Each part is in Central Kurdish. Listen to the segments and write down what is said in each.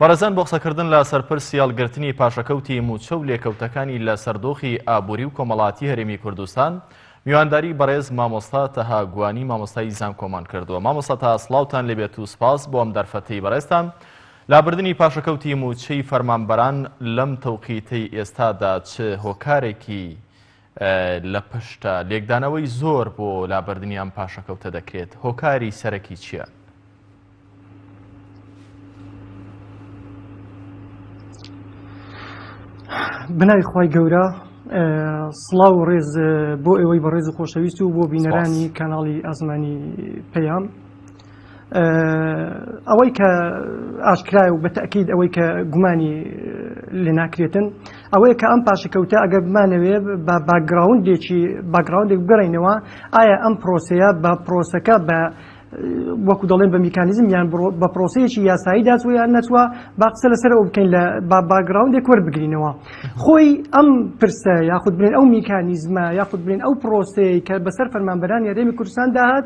بەڕێزان بۆ قسەکردن لە سەر پرسی هەڵگرتنی پاشەکەوتی مووچە و لێکەوتەکانی لە سەر دۆخی ئابووری و کۆمەڵاتی هەرێمی کوردستان میوانداری بەڕێز مامۆستا تەها گوانی مامۆستای زانکۆمان کردووە مامۆستا تا سڵاوتان لێبێت و سپاس بۆ ئەم دەرفەتەی بەڕێزتان لابردنی پاشەکەوتی مووچەی فەرمانبەران لەم تەوقیتەی ئێستادا چ هۆکارێکی لە پشت لێکدانەوەی زۆر بۆ لابردنی ئەم پاشەکەوتە دەکرێت هۆکاری سەرەکی چییە؟ بنای خی گەورە سڵاو و ڕێز بۆ ئێوەی بەڕێز و خۆشەویست و بۆ بینەرانی کانناڵی ئاسمانی پەیام ئەوەی کە ئاشکرایە و بە تەئکید ئەوەی کە گومانی لێناکرێتن ئەوەیە کە ئەم پاشەکەوتە ئەگەر بمانەوێ بە باگراوندێکی باگراوندێک بگەڕینەوە ئایا ئەم پرۆسەیە بە پرۆسەکە بە وەکو دەڵێن بە میکانیزم یان بە پرۆسەیەکی یاسایی داچوە یان نەچوە با قسە لەسەر ئەو بکەین لە با باگراوندێک وەربگرینەوە خۆی ئەم پرسە یاخود بێن ئەو میکانیزمە یاخود بێن ئەو پرۆسەیە کە بەسەر فەرمانبەرانی هەرێمی کوردستان داهات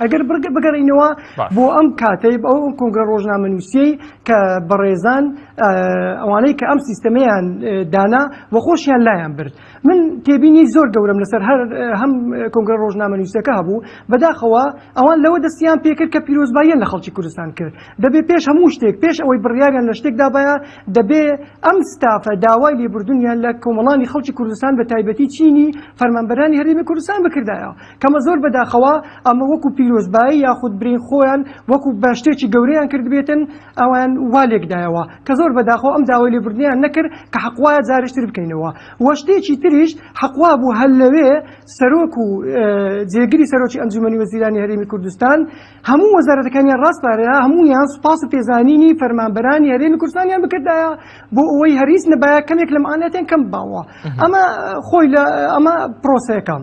ئەگەر بگەڕێینەوە بۆ ئەم کاتەی ئەو کۆنگرە ڕۆژنامەنووسیەی کە بەڕێزان ئەوانەی کە ئەم سیستەمەیان دانا و خۆشیان لایەن برد من تێبینی زۆر گەورم لەسەر هەر هەم کۆنگرە ڕۆژنامەنووسەکە هەبوو بەداخەوە ئەوان لەوە دەستیان پێکرد کە پیرۆزباییان لە خەڵکی کوردستان کرد دەبێ پێش هەموو شتێک پێش ئەوەی بڕیاریان لە شتێک دابایە دەبێ ئەم ستافە داوای لێبوردنیان لە کۆمەڵانی خەڵکی کوردستان بە تایبەتی چینی فەرمانبەرانی هەرێمی کوردستان بکردایە کەمە زۆر بەداخەوە ئەمە وەکو پیرۆزبایی یاخود برین خۆیان وەکو بە شتێکی گەورەیان کردبێتن ئەوان وا لێکدایەوە کە زۆر بەداخەوە ئەم داوای لێبوردنیان نەکرد کە حەق وایە جارێشتر بکەینەوە وە شتێکی تریش حەق وابوو هەر لەوێ سەرۆک و جێگری سەرۆکی ئەنجومەنی وەزیرانی هەرێمی کوردستان هەموو وەزارەتەکانیان ڕاسپارێرا هەموویان سوپاس و پێزانینی فەرمانبەرانی هەرێمی کوردستانیان بکردایە بۆ ئەوەی هەریس نەبایە کەمێک لەم ئالاتیان کەم باوە ئەمە خۆی لە ئەمە پرۆسەکەم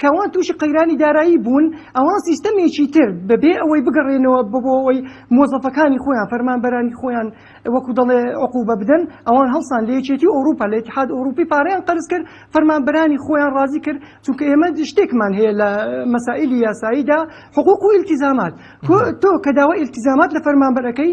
کەئەوان تووشی قەیرانی دارایی بوون، ئەوان سیستەمێکی تر بەبێ ئەوەی بگەڕێنەوە بۆ ئەوەی مۆزەفەکانی خۆیان، فەرمانبەرانی خۆیان وەکو دەڵێ عقوبە بدەن، ئەوان هەڵسان لە یەکێتی ئەوروپا، لە اتحاد اوروپی پارەیان قەرزکرد، فەرمانبەرانی خۆیان ڕازی کرد، چونکە ئێمە شتێکمان هەیە لە مەسائیلی یاساییدا حقوق و التزامات، تۆ کە داوای التزامات لە فەرمانبەر ئەکەی،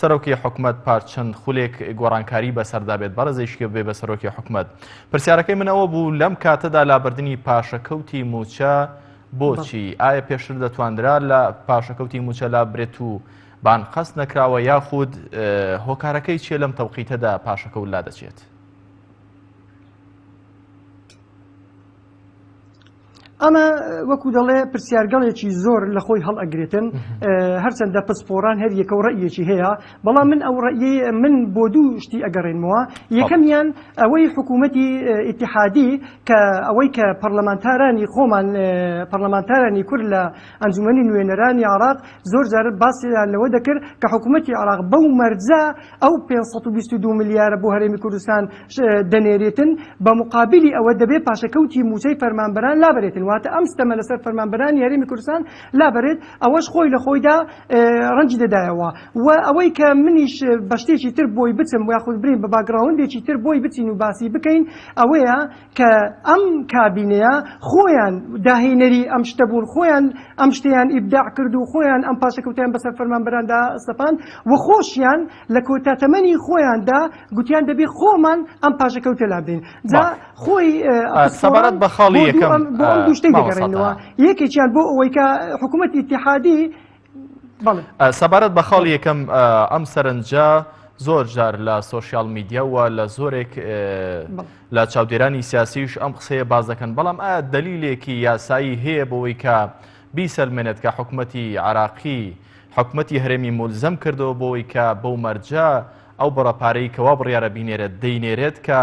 سەرۆکی حکومەت پار چەند خولێک گۆڕانکاری بەسەردا بێت بەڕێزیشکی بێ بە سەرۆکی حکومەت پرسیارەکەی من ئەوە بوو لەم کاتەدا لابردنی پاشەکەوتی موچە بۆچی ئایا پێشتر دەتواندرا لە پاشەکەوتی موچە لا برێت و بان قەست نەکراوە یاخود هۆکارەکەی چیە لەم تەوقیتەدا پاشەکە ولا دەچێت ئەمە وەکو دەڵێ پرسیارگەڵێکی زۆر لە خۆی هەڵ ئەگرێتن هەرچەندە پسپۆران هەر یەکە و ڕئیەکی هەیە بەڵام من ئەو ڕئیە من بۆ دوو شتی ئەگەڕێنمەوە یەکەمیان ئەوەی حکوومەتی ئیتحادی کە ئەوەی کە پەرلەمانتارانی خۆمان پەرلەمانتارانی کورد لە ئەنجومی نوێنەرانی عراق زۆر جار باسیان لەوە دەکرد کە حکوومەتتی عراق بەو مەرجە ئەو پێنج سەد و بیست و دوو ملیارە بۆ هەرێمی کوردستان دەنێرێتن، بە موقابیلی ئەوە دەبێ پاشەکەوتی مووچەی فەرمانبەران لابرێتن، واتە ئەم ستەمە لەسەر فەرمانبەرانی هەرێمی کوردستان لابرێت، ئەوەش خۆی لە خۆیدا رەنجی دەدایەوە و ئەوەی کە منیش بە شتێکی تر بۆی بچم یاخود برێین بە باکگراوندێکی تر بۆی بچین و باسی بکەین ئەوەیە کە ئەم کابینەیە خۆیان داهێنەری ئەم شتە بوون، خۆیان ئەم شتەیان ئیبداع کرد و خۆیان ئەم پاشەکەوتەیان بەسەر فەرمانبەراندا سەپاند و خۆشیان لە کۆتا تەمەنی خۆیاندا گوتیان دەبێ خۆمان ئەم پاشەکەوتە لابدەین. جا خۆی سەبارەت بە خاڵی یەکەم بۆ ئەم دوو شتەی دەگەڕێنەوە، یەکێکیان بۆ ئەوەی کە حکوومەتی ئیتیحادی، سەبارەت بە خاڵ یەکەم ئەم سەرنجە زۆر جار لە سوۆسیال میدیاوە لە زۆرێک لە چاودێرانی سیاسیش ئەم قسەیە باز دەکەن بەڵام ئایا دلیلێکی یاسایی هەیە بۆەوەی کە بیسەلمێنێت کە حکوومەتتی عراقی حکوومەتتی هەرێمی مولزم کردەوە بۆەوەی کە بەو مەرجە ئەو بڕەپارەی کەوا بڕیاە بینێرێت دەینێرێت کە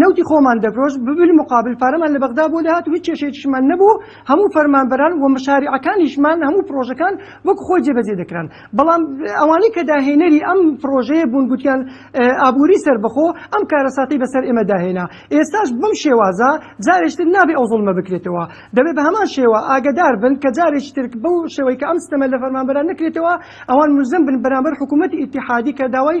نەوتی خۆمان دەفرۆشت بلمقابل پارەمان لە بەغدا بۆ دەهات و هیچ کێشەیەکیشمان نەبوو، هەموو فەرمانبەران و مشاریعەکانیشمان هەموو پڕۆژەکان وەک خۆی جێبەجێ دەکران، بەڵام ئەوانەی کە داهێنەری ئەم پڕۆژەیە بوون گوتیان ئابووری سەربەخۆ ئەم کارەساتەی بەسەر ئێمەدا هێنا، ئێستاش بەم شێوازە جارێکی تر نابێ ئەو زوڵمە بکرێتەوە، دەبێ بە هەمان شێوە ئاگەدار بن کە جارێکی تر بەو شێوەی کە ئەم ستەمە لە فەرمانبەران نەکرێتەوە ئەوان مولزەم بن بەرامبەر حکوومەتی ئیتیحادی کە داوای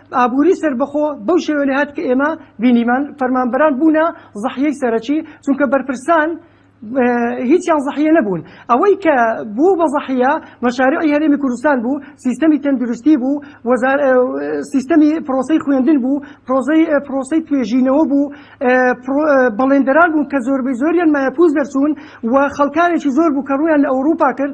ئابوری سەربەخۆ بەو شێوە لێهات کە ئێمە بینیمان، فەرمانبەران بوونە زەحیەی سەرەکی، چونکە بەرپرسان هیچیان زەحیە نەبوون، ئەوەی کە بوو بە زەحیە مەشاریعی هەرێمی کوردستان بوو، سیستەمی تەندروستی بوو، سیستەمی پرۆسەی خوێندن بوو، پرۆسەی توێژینەوە بوو، بەڵێندەران بوون کە زۆربەی زۆریان مایەپووچ دەرچوون و خەڵکانێکی زۆر بوو کە ڕوویان لە ئەوروپا کرد،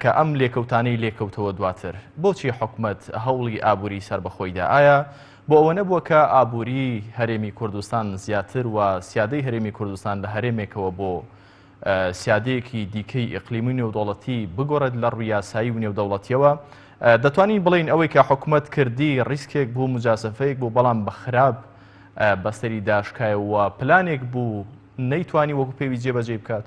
کە ئەم لێکەوتانەی لێکەوتەوە دواتر بۆچی حکومەت هەوڵی ئابووری سەربەخۆیدا ئایا بۆ ئەوە نەبووە کە ئابووری هەرێمی کوردستان زیاتر و سیادەی هەرێمی کوردستان لە هەرێمێکەوە بۆ سیادەیەکی دیکەی ئەقلیمی نێودوڵەتی بگۆڕێت لە ڕویاسایی و نێودەوڵەتیەوە دەتوانین بڵین ئەوەی کە حکومت کردی ڕیسکێک بوو مجاسەفەیەک بۆ بەڵام بە خراپ بەستری داشکایەوە پلانێک بوو نەیتوانی وەکو پێوی جێبەجێ بکات.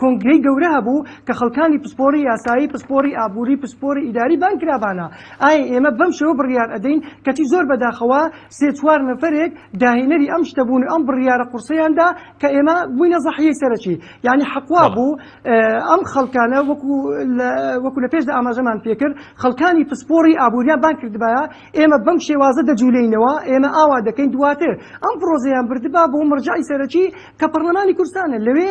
کۆنگرەی گەورە هەبوو کە خەڵکانی پسپۆری یاسایی، پسپۆری ئابووری، پسپۆری ئیداری بان کرا بانە ئایا ئێمە بەم شێوە بڕیار ئەدەین، کەچی زۆر بەداخەوە سێ چوار نەفەرێک داهێنەری ئەم شتە بوون و ئەم بڕیارە قوڕسەیان دا کە ئێمە بووینە زەحیەی سەرەکی، یانی حەق وا بوو ئەم خەڵکانە وەکو لە وەکو لە پێشدا ئاماژەمان پێ کرد خەڵکانی پسپۆری ئابووریان بان کردبایە ئێمە بەم شێوازە دەجولێینەوە ئێمە ئاوا دەکەین دواتر ئەم پڕۆزەیان بردبا بۆ مەرجەعی سەرەکی کە پەڕلەمانی کوردستانە لەوێ